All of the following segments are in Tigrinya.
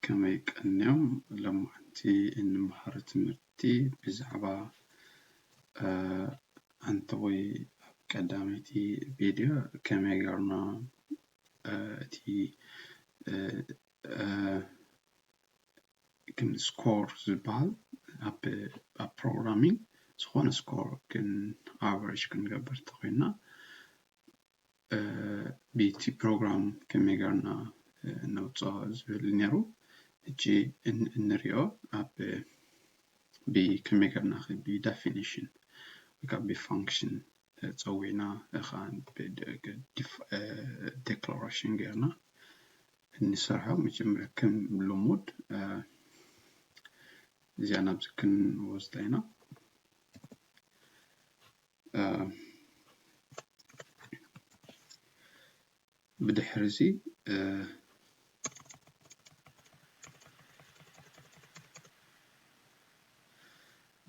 ከመይ ቀንዮም ሎምዓንቲ እንመሃሮ ትምህርቲ ብዛዕባ ኣንቲ ወይ ኣብ ቀዳመይቲ ቪድዮ ከመይ ገርና እቲ ግን ስኮር ዝበሃል ኣብ ኣብ ፕሮግራሚን ዝኾነ ስኮር ግን ኣቨሬጅ ክንገብር ተኾይንና ቤቲ ፕሮግራም ከመይ ገርና ነውጾ ዝብል ነሩ እጂ እንርዮ ኣብ ብ ከመይ ገርና ብ ዳፊኒሽን ወይ ከኣ ብ ፋንክሽን ጸዊዕና እኻ ዲክላረሽን ገርና እንሰርሖ መጀመርያ ከም ሉሙድ እዚኣ ናብዚ ክንወስዳ ኢና። ብድሕርዚ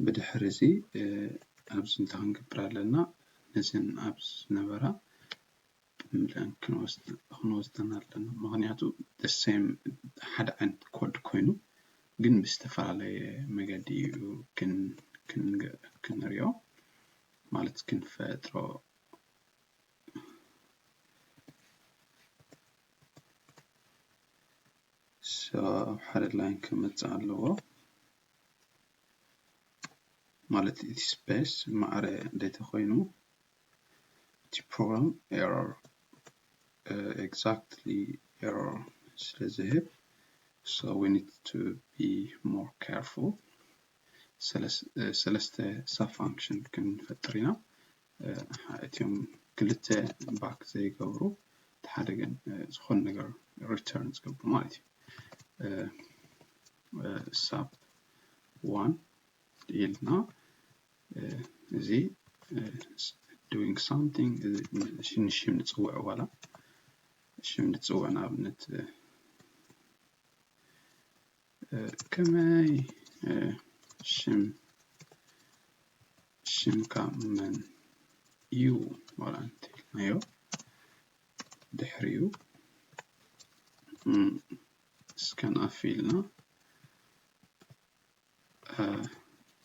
ብድሕርዚ ኣብዚ እንታይ ክንገብር ኣለና ነዘን ኣብዚ ዝነበራ ብለን ክንወስደን ኣለና ምክንያቱ the same ሓደ ዓይነት ኮድ ኮይኑ ግን ብዝተፈላለየ መገዲ እዩ ክንሪኦ ማለት ክንፈጥሮ ኣብ ሓደ ላይን ክመፅእ ኣለዎ ማለት እቲ ስፔስ ማዕረ እንዴተ ኮይኑ እቲ ፕሮግራም ኤረር ኤግዛክትሊ ኤረር ስለ ዝህብ so we need to be more careful ሰለስተ ሳብ ፋንክሽን ክንፈጥር ኢና እትም ክልተ ባክ ዘይገብሩ እቲ ሓደ ግን ዝኾነ ነገር ሪተርን ዝገብሩ ማለት እዩ ሳብ ዋን ኢልና እዚ ዶንግ ሳምቲንግ ንሽም ንፅውዕ ዋላ ሽም ንፅውዕ ንኣብነት ከመይ ሽም ሽምካ መን እዩ ዋላ እንተኢልናዮ ድሕሪኡ ስካን ኣፍ ኢልና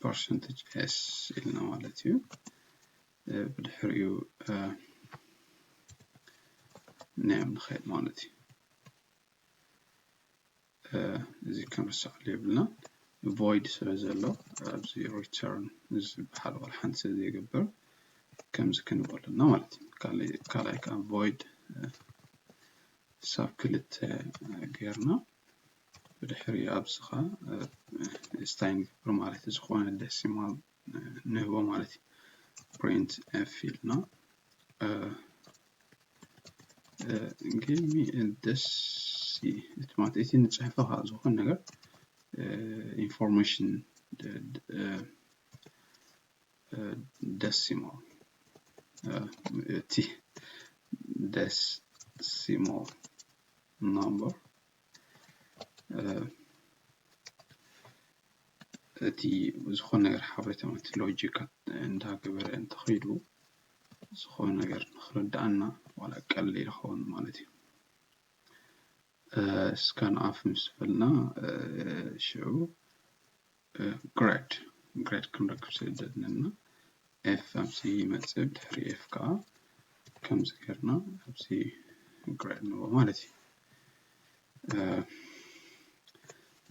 ፐርሰንትጅ ኤስ ኢልና ማለት እዩ ብድሕሪኡ ኔም ንኸይድ ማለት እዩ እዚ ከምርሳዕ የብልና ቮይድ ስለ ዘሎ ኣብዚ ሪተርን ዝበሃል ዋላ ሓንቲ ስለ ዘይገብር ከምዚ ክንበለና ማለት እዩ ካልኣይ ከዓ ቮይድ ሳብ ክልተ ጌርና ብድሕሪ ኣብስኻ ስታይ ንገብር ማለት ዝኾነ ደሲማል ንህቦ ማለት እዩ ፕሪንት ኤፍ ኢልና ጊቭ ሚ ደሲ እቲ ማለት እቲ ንፅሕፈ ከዓ ዝኾነ ነገር ኢንፎርሜሽን ደሲማል እቲ ደሲማል ናምበር እቲ ዝኾነ ነገር ሓበሬታ ማለት ሎጂካ እንዳገበረ እንተኸይዱ ዝኾነ ነገር ንኽርድኣና ዋላ ቀሊል ይኸውን ማለት እዩ። እስካን ኣፍ ምስ በልና ሽዑ ግራድ ግራድ ክንረክብ ስለ ዘለና ኤፍ ኣብዚ ይመፅእ ድሕሪ ኤፍ ከዓ ከምዚ ጌርና ኣብዚ ግራድ ንቦ ማለት እዩ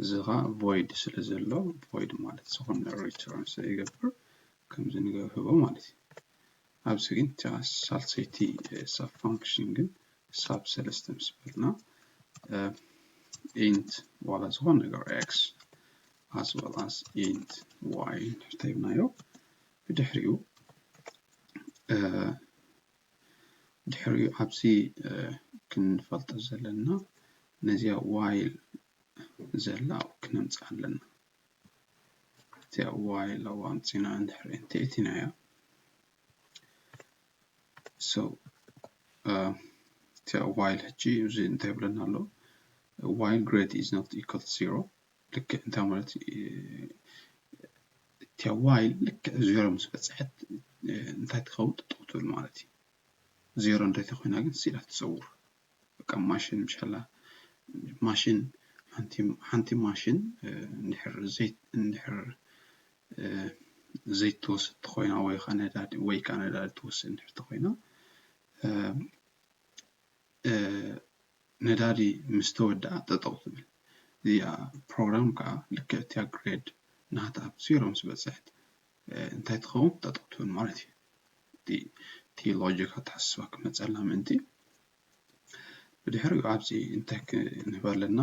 እዚ ከዓ ቮይድ ስለ ዘሎ ቮይድ ማለት ዝኾነ ሪተርን ስለይገብር ከምዚ ንገብህቦ ማለት እዩ ኣብዚ ግን እታ ሳልሰይቲ ሳብ ፋንክሽን ግን ሳብ ሰለስተ ምስ በልና ኢንት ዋላ ዝኾነ ነገር ኤክስ as well as int y እንተሂብናዮ ብድሕሪኡ ድሕሪኡ ኣብዚ ክንፈልጦ ዘለና ነዚኣ ዋይል ዘላ ክነምፅኣ ኣለና ኣብቲ ዋይ ሎጎ ኣምጺና እንድሕር እንተእቲናዮ ሶ እቲ ዋይል ሕጂ እዚ እንታይ ይብለና ኣሎ ዋይል ግሬድ ኢዝ ኖት ኢኳል ቱ ዜሮ ልክዕ እንታይ ማለት እቲ ዋይል ልክዕ ዜሮ ምስ በጽሐት እንታይ ትኸውን ጠጠው ትብል ማለት እዩ ዜሮ እንተይተኮይና ግን ስኢላ ትጸውር በቃ ማሽን ምሻላ ማሽን ሓንቲ ሓንቲ ማሽን እንድሕር ዘይት እንድሕር ዘይት ትወስድ ተኾይና ወይ ኸዓ ነዳዲ ወይ ኸዓ ነዳዲ ትወስድ እንድሕር ተኾይና ነዳዲ ምስ ተወድኣ ጠጠው ትብል እዚኣ ፕሮግራም ከዓ ልክዕ እቲኣ ግሬድ ናታ ኣብ ዜሮ ምስ በፅሐት እንታይ ትኸውን ጠጠው ትብል ማለት እዩ እቲ እቲ ሎጂክ ኣተሓሳስባ ክመፀልና ምእንቲ ብድሕሪኡ ኣብዚ እንታይ ክንህብ ኣለና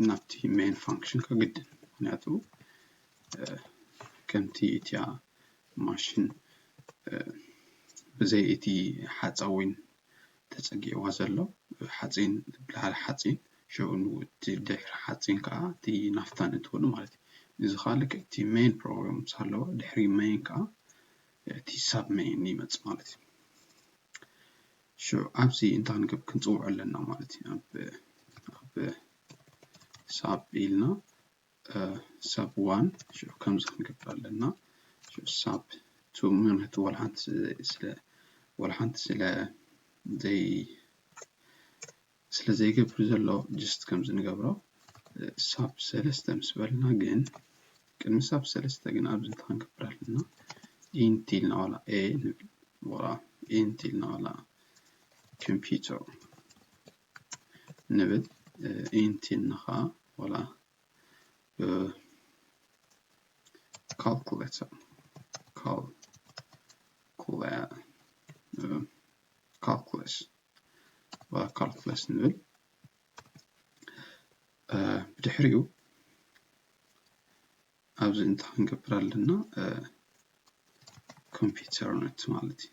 ናብቲ ሜን ፋንክሽን ከግድን ምክንያቱ ከምቲ እቲያ ማሽን ብዘይ እቲ ሓፃዊን ተጸጊዕዋ ዘሎ ሓጺን ብላዕሊ ሓጺን ሸው እቲ ድሕሪ ሓጺን ከኣ እቲ ናፍታ ነእትወሉ ማለት እዩ። እዚ ከኣ ልክዕ እቲ ሜይን ፕሮብለም ምስ ሃለወ ድሕሪ ሜይን ከኣ እቲ ሳብ ሜይን ይመጽእ ማለት እዩ። ሽዑ ኣብዚ እንታይ ክንገብር ክንጽውዖ ኣለና ማለት እዩ። ኣብ ሳብ ኢልና ሳብ ዋን ሽዑ ከምዚ ክንገብር ኣለና ሽዑ ሳብ ቱ ምክንያቱ ዋላ ሓንቲ ስለ ዋላ ሓንቲ ስለ ዘይ ስለ ዘይገብር ዘሎ ጅስት ከምዚ ንገብሮ ሳብ ሰለስተ ምስ በልና ግን ቅድሚ ሳብ ሰለስተ ግን ኣብዚ እንታይ ክንገብር ኣለና ኢንት ኢልና ዋላ ኤ ንብል ዋላ ኢንት ኢልና ዋላ ኮምፒተር ንብል ኢንት ኢልና ኸኣ ወላ ካልኩሌተር ካልኩለስ ወላ ካልኩለስ ንብል ብድሕሪኡ ኣብዚ እንታይ ክንገብር ኣለና ኮምፒውተር ነት ማለት እዩ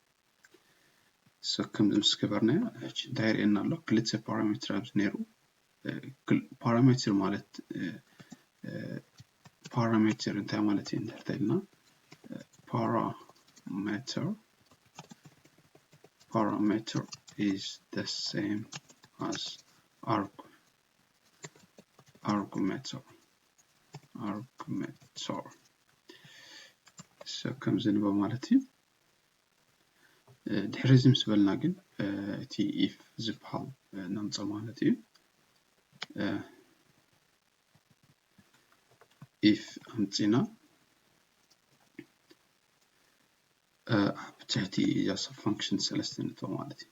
ከምዚ ምስ ገበርናዮ ሕጂ እንታይ የርእየና ኣሎ ክልተ ፓራሜትር ኣብዚ ነይሩ ፓራሜትር ማለት ፓራሜትር እንታይ ማለት እዩ እንድሕር ተኢልና ፓራሜትር ፓራሜትር is the same as arg argumentor argumentor so ከምዚ ንበ ማለት እዩ ድሕሪ እዚ ምስ በልና ግን እቲ ኢፍ ዝበሃል ነምጾ ማለት እዩ ኢፍ ኣምጺና ኣብ ትሕቲ እዛ ሰብ ፋንክሽን ሰለስተ ንእቶ ማለት እዩ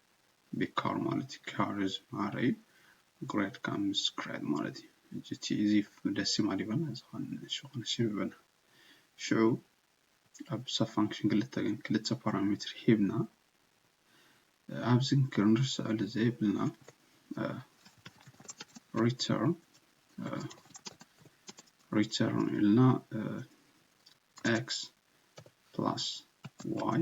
ቢግ ካር ማለት ካር እዩ ዝብሃል እዩ ግሬት ካር ምስ ክሬት ማለት እዩ ሕጂ እቲ እዚ ደሲማል ይበና ዝኾነ ዝኾነ ሽም ይበና ሽዑ ኣብ ሰብ ፋንክሽን ክልተ ግን ክልተ ፓራሜትር ሂብና ኣብዚ ክንርስዐሉ ዘይብልና ሪተርን ሪተርን ኢልና ኤክስ ፕላስ ዋይ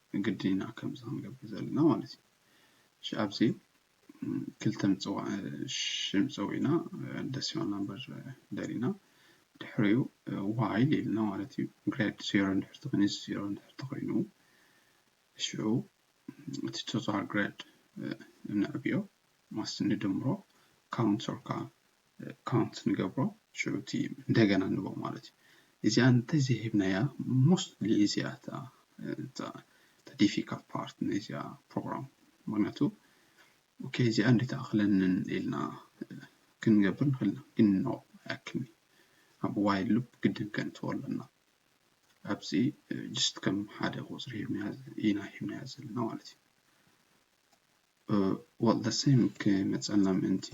ግድን ኢና ከምዚ ክንገብር ዘለና ማለት እዩ እሺ ኣብዚ ክልተ ምፅዋዕ ሽም ፀዊዕና ደስ ይበልና እምበር ደሊና ድሕሪኡ ዋይል ኢልና ማለት እዩ ግሬድ ዜሮ እንድሕር ተኾይኑ እዚ ዜሮ እንድሕር ተኾይኑ ሽዑ እቲ ቶታል ግሬድ ነዕብዮ ማስ ንድምሮ ካውንት ሶርካ ካውንት ንገብሮ ሽዑቲ እንደገና ንቦ ማለት እዩ እዚኣ እንተ ዘይሂብናያ ሞስትሊ እዚኣ እታ ዲፊካልት ፓርት ናይዚኣ ፕሮግራም ምክንያቱ ኦኬ እዚኣ እንዴት ኣክለንን ኢልና ክንገብር ንክእል ኢና ግን ኖ ኣያክልኒ ኣብ ዋይል ሉፕ ግድን ከንትዎ ኣለና ኣብዚ ጅስት ከም ሓደ ቁፅሪ ሂብና ኢና ሂብናያ ዘለና ማለት እዩ ወልደሰን ክመጸና ምእንቲ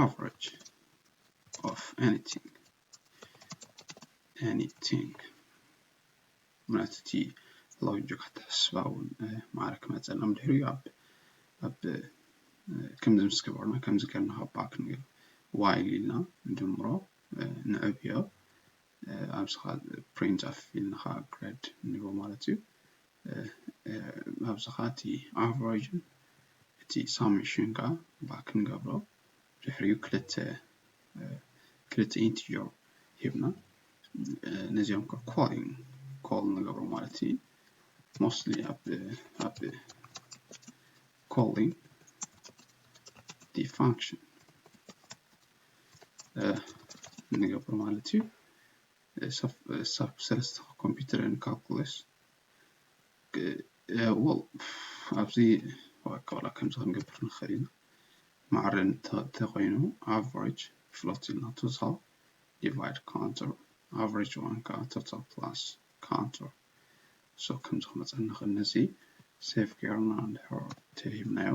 ኣቨረጅ ኦፍ ኤኒቲንግ ኤኒቲንግ ማለት እቲ ሎጂክ ኣተሓስባ እውን ማዕረ ክመጸና ምድሕሪ እዩ ኣብ ኣብ ከምዚ ምስ ገበርና ከምዚ ገርና ካብ ባክ ንብል ዋይል ኢልና ንድምሮ ንዕብዮ ኣብዝኻ ፕሪንት ኣፍ ኢልና ኸኣ ግረድ ንብሎ ማለት እዩ ኣብዝኻ እቲ ኣቨረጅ እቲ ሳሜሽን ከኣ ባክ ንገብሮ ድሕሪኡ ክልተ ክልተ ኢንቲጀር ሂብና ነዚኦም ከ ኮሊንግ ኮል ንገብሮ ማለት እዩ ሞስትሊ ኣብ ኣብ ኮሊንግ ዲ ፋንክሽን ንገብሮ ማለት እዩ ሳብ ሰለስተ ኮምፒተር ንካልኩለስ ወል ኣብዚ ዋላ ከምዚ ክንገብር ንኽእል ኢና ማዕረ እንተኾይኑ ኣቨሬጅ ፍሎት ኢልና ቶታል ዲቫይድ ካውንተር ኣቨሬጅ ዋን ከዓ ቶታል ፕላስ ካውንተር ሶ ከምዚ ክመፀና ንኽእል ነዚ ሴቭ ጌርና እንድሕር ተሂብናዮ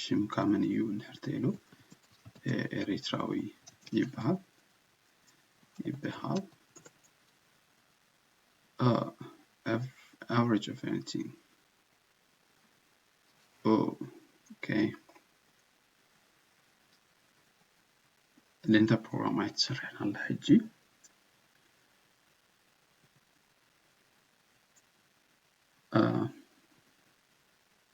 ሽምካ መን እዩ እንድሕር ተይሉ ኤሪትራዊ ይበሃል ይበሃል average of anything ኦኬ ሌንታ ፕሮግራም ኣይትሰርሕን ኣላ ሕጂ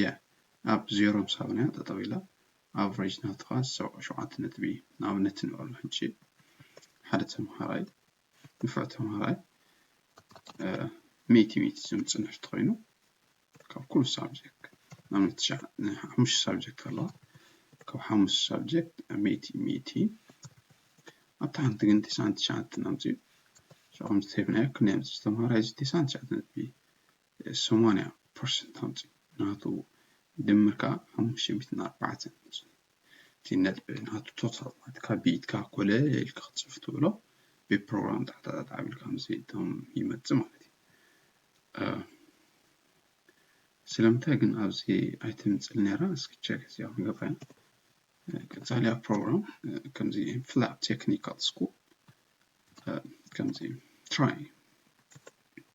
Yeah ኣብ ዜሮ ምሳውን እያ ጠጠው ኢላ ኣቭሬጅ ናትኻ ሰብዓ ሸውዓተ ነጥቢ እዩ ንኣብነት ንበሎ ሕጂ ሓደ ተምሃራይ ንፉዕ ተምሃራይ ሚእቲ ሚእቲ ዘምጽእ እንድሕር ተኾይኑ ካብ ኩሉ ሳብጀክት ንኣብነት ሓሙሽተ ሳብጀክት ኣለዋ ካብ ሓሙሽተ ሳብጀክት ሚእቲ ሚእቲ ኣብታ ሓንቲ ግን ትስዓን ትሽዓተ እናምጽኡ ሸቕም ዝተብናዮ ክንደይ ኣምጽእ ተምሃራይ እዚ ትስዓን ትሽዓተ ነጥቢ ሰማንያ ፐርሰንት ኣምጺኡ ናቱ ድምር ከኣ ሓሙሽተ ሚእትን ኣርባዕተን ኣምጺኡ እቲ ነጥቢ ናቱ ቶታል ማለት ካብ ብኢድካ ኮለል ኢልካ ክትጽፍ ትብሎ ብፕሮግራም ጣዕጣዕጣዕ ኣቢልካ ምስ እቶም ይመጽእ ማለት እዩ ስለምንታይ ግን ኣብዚ ኣይትምፅል ነራ እስኪ ቸክ እዚኣ ክንገብራ ቀፃሊያ ፕሮግራም ከምዚ ፍላፕ ቴክኒካል ስኩል ከምዚ ትራይ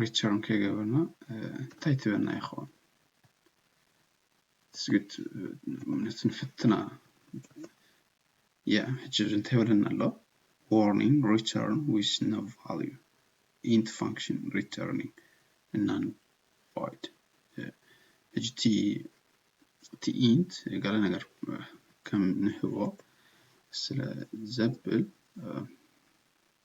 ሪተርን ከይገበርና እንታይ ትበና ይኸውን ስግት እምነት ንፍትና ያ ሕጂ እንታይ ይብለና ኣሎ ዋርኒንግ ሪተርን ዊዝ ኖ ቫልዩ ኢንት ፋንክሽን ሪተርኒንግ እናን ቫይድ ሕጂ እቲ እቲ ኢንት ገለ ነገር ከም ንህቦ ስለ ዘብል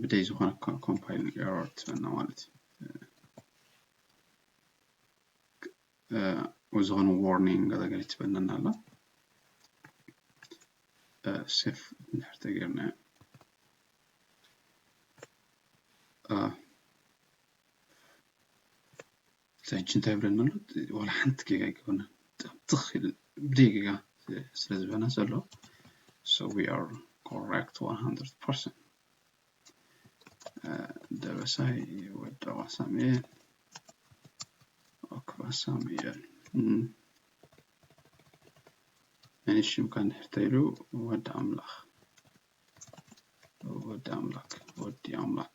ብደይ ዝኾነ እኳ ኮምፓይል ኤረር ትበና ማለት እዩ ዝኾነ ዋርኒንግ ገለገለ ትበነና ኣላ ሴፍ እንድሕር ተገይርና እቲ ሕጂ እንታይ ይብለና ኣሎ ዋላ ሓንቲ ጌጋ ኣይገበርናን ጥም ትኽ ኢሉ ብዘይ ጌጋ ስለ ዝበና ዘሎ so we are correct 100% ደበሳይ ወደዋ ሳሙኤል ወክባ ሳሙኤል ናይ ሽምካ እንድሕር ተይሉ ወዲ ኣምላኽ ወዲ ኣምላክ ወዲ ኣምላክ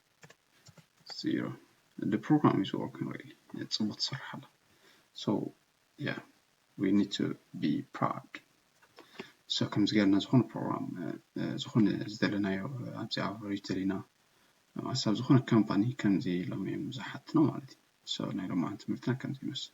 zero the program is working really ጽቡቅ ትሰርሕ ኣላ so yeah we need to be proud so ከምዚ ገርና ዝኾነ ፕሮግራም ዝኾነ ዝደለናዮ ኣብዚ ኣብ ሪጅተር ኢና ማሳብ ዝኾነ ካምፓኒ ከምዚ ኢሎም እዮም ዝሓትኖ ማለት እዩ so ናይ ሎማዓንቲ ትምህርትና ከምዚ ይመስል